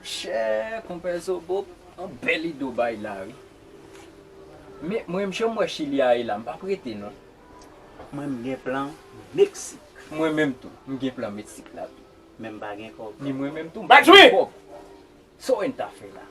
Monchè konpè zobo yon bèl ide w bay la wi men mwen menm jan m wè chili a ye la m pap rete non mwen m gen plan meksik mwen menm tou m gen plan meksik la tou men m pa gen kòb ni mwen menm tou m pa gen kòb so en ta fè la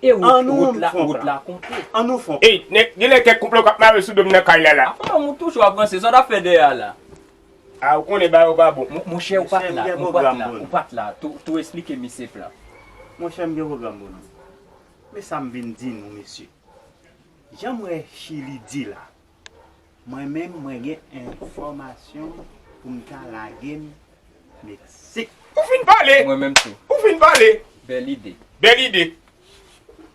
e wout la wout la konte an nou fon plan ey nèg gen lè kèk koup la w k ap mare sou do m nan kay la la a kòman moun toujou ap ranse sa w t ap fè dèyè a la. Ah ou konnen bagay yo pa bon. Monchè ou pat la, ou pat la, ou pat la, tou esplike misye plan. Monchè m gen pwogram pou nou. Men sa m vin di nou mesye. Jan m wè Chili di la, mwen menm mwen gen enfòmasyon pou m ta lage m Meksik. Ou fin pale! Mwen menm tou. Ou fin pale! Bèl ide. Bèl ide.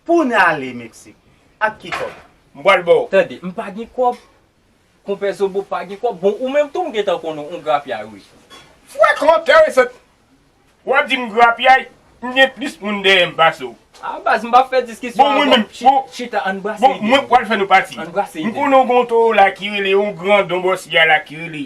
Pou n ale Meksik, ak ki kòb? M pral ba w. Tande, m pa gen kòb. Konpè zobo pa gen kòb bon ou menm tou m gentan konn ou grapyay wi. Frekan terresant wap di m grapyay m gen plis moun dèyè m pase w. A baz m pa fè diskisyon avè w chita ann brase ide bon mwen pwal fè nou pati m konnen w gen yon toro la ki rele yon grandon bòs ya la ki rele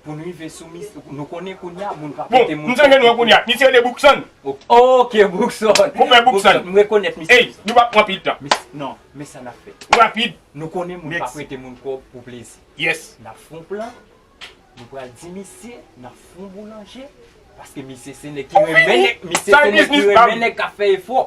Pou n rive sou mis, nou konnen kounya moun ka pote moun. Bon, m sonje nou an kounya. Misye rele Brookson. Ok, Brookson. Konpè Brookson. M rekonèt misye. Ey, nou pa pran pil tan. Non, men sa n ap fè. Rapid. Nou konnen moun pa prete moun kòb pou plezi. Yes. N ap fè yon plan. Nou pral di misye n ap fè yon boulanje. Paske misye se nèg ki renmen nèg. Misye se nèg ki renmen nèg k ap fè efò.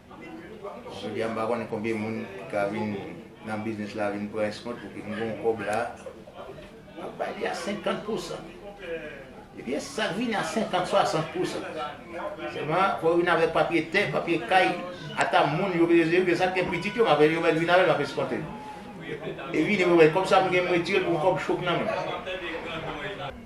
Jodi a m pa konnen konbyen moun ki ka vin nan biznis la vin pran eskont pou ki m gen yon kòb la m ap bay li a 50 pousan epi e sa k vini a 50 60 pousan sèlman fò yo vin avèk papye tè papye kay ata moun yo bezwen yo sa k gen pitit yo m ap yo mèt vin avèk m ap eskonte yo e vini pou yo bay kòb sa m gen m retire l pou m kòb cho k nan men m.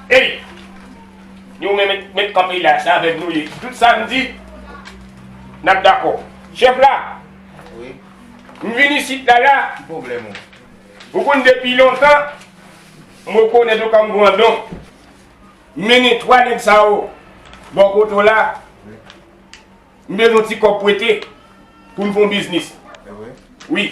Ey Nou menm met kanpe la se avek Nou ye tout sa Nou di nap dako chef la wi m vin isit la la ki problem ou ou konn depi lontan m rekonet ou kom grandon mennen 3 neg sa yo bò kote w la m bezwen ti kob prete poun fon biznis wi.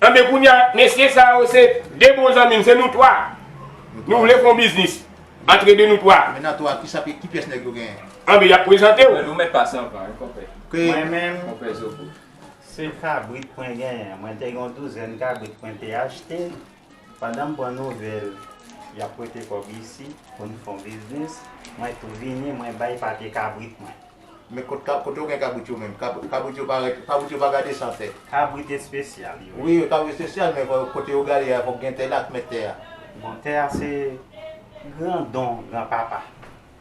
Anben kounya mesye sa yo se 2 bon zanmi m se nou 3 nou vle fon biznis antre 2 nou 3. Anben yap prezante w. Mwen menm se kabrit mwen genyen mwen te gen yon douzèn kabrit mwen te achte. Pandan m pran nouvèl y ap prete kòb isi pou n fon biznis, mwen tou vini mwen bay pate kabrit mwen. Men kot ka, kote ou gen kabrit yo menm? Kab, kabrit yo pa rete, kabrit yo pa gade san tè. Kabrit espesyal yo. Wi, kabrit espesyal men fò, kote yo gade a, fòk gen tè la ak mèt tè a. Bon, tè a se gran don gran papa.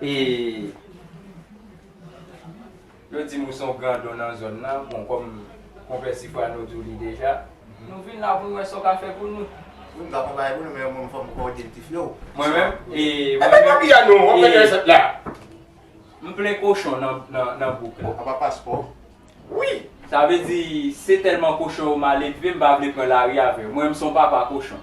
E Yo dim ou se yon grandon nan zòn nan, bon kòm Konpè Sifrano di w li deja, nou vin la pou nou wè sa w ka fè pou nou. Wi m ka fè yon bagay pou nou men mwen fò m kòde ti Flo. Mwen menm e Mwen menm e Epi papi a non, wap gade resèt la. M plen kochon nan bouk la. Anba paspò wi. Sa vle di se tèlman kochon yo maledve m pa vle pran lari avè yo. Mwen menm se yon papa kochon.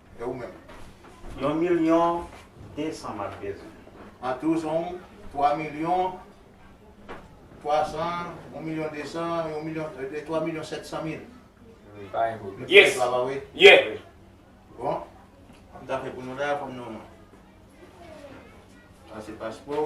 E ou menm? Yon milyon desan m ap bezwen. An tou se yon twa milyon twa san, yon milyon desan, yon milyon, twa milyon sèt san mil. M pa gen pwoblèm. Yes! Sa va wi? Yeah! Bon, sa m ta fè pou nou la, fò m nou. Sa se paspò.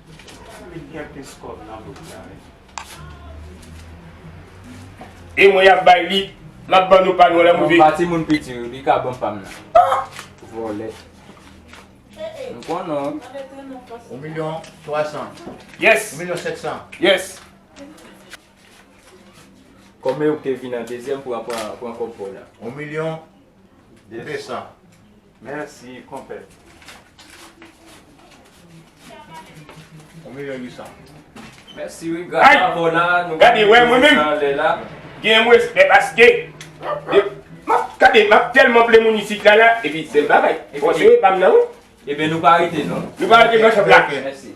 E mwen yap bay li lap ban nou pa nou la move. Banm pa timoun piti yo li ka ban pam nan. Vòlè. M konn ou. Ou milyon 3 san. Yes. Ou milyon 7 san. Yes. Kòmè ou te vin an dezyèm pou a pran kòb paw la. Ou milyon 2 san. Merci konpè. Ou meyè ui sa. Mèsi wi gras Ay! a Mona nou pa Gade wè mwen bliye menm. sa lè la. Genyen mwen respè paske de map gade map tèlman plen moun isit la la epi bèl bagay. Bon se yo epam nan wi. Ebyen nou pa rete non. Nou pa rete nan shop la. Mèsi.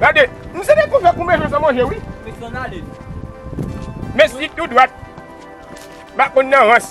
Gade, nou se de kouve kou bezwen san manje wi. Mwen san ale nou. Men si tou dwat. M'a konn nan rans.